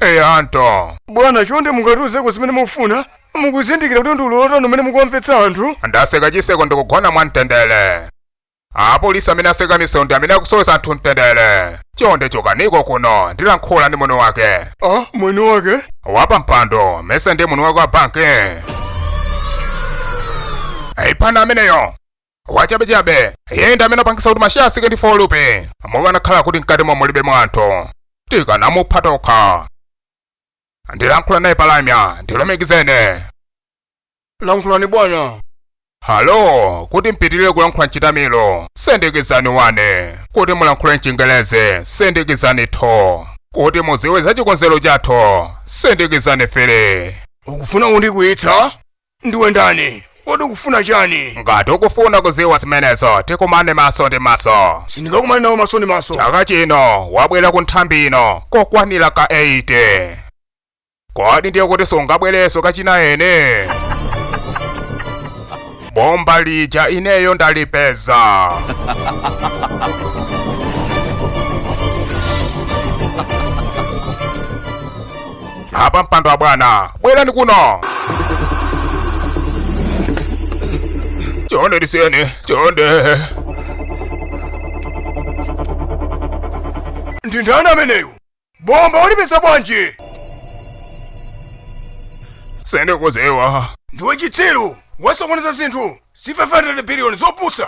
Hey, Anto. bwana chonde mungatiuzeko zimene mukufuna mukuzindikira kuti ndi ululu wotani umene mukuwamvetsa anthu ndaseka chiseko ndikugona mwa mtendere apolisi amene atseka misewu ndi amene akusowesa anthu mtendere chonde chokaniko kuno ndilankhula ndi mwini wake ah mwini wake wapampando mese ndi mwini wake wa banki ayi pana ameneyo wachabechabe iye ndi amene wapangisa kuti masheya asike ndi folupe mukanakhala kuti mkatimo mulibemo anthu tikanamupha tokha. ndilankhula naye palamya ndilumikizeni lankhulani bwana halo kuti mupitirire kulankhula mchitamilo sindikizani wane kuti mulankhule mchingelezi sindikizani thu kuti muziwe za chikonzero chathu sindikizani fili ukufuna kundikwiyitsa Ndiwe ndani? Kodi ukufuna chani? Ngati ukufuna kuziwa zimenezo tikumane maso ndi maso. Sindingakumane nawo maso ndi maso. Chaka chino wabwera ku nthambi ino kokwanira ka 8. Kodi ndiye kuti sungabwereso kachinaini? Bomba lija ineyo ndalipeza. apampando abwana bwerani kuno chonde ndisiyeni chonde ndi ndani ameneyu bomba walipeza bwanji sindikuziwa ndiwe chitsiru wasokoneza zinthu za 500 biliyoni zopusa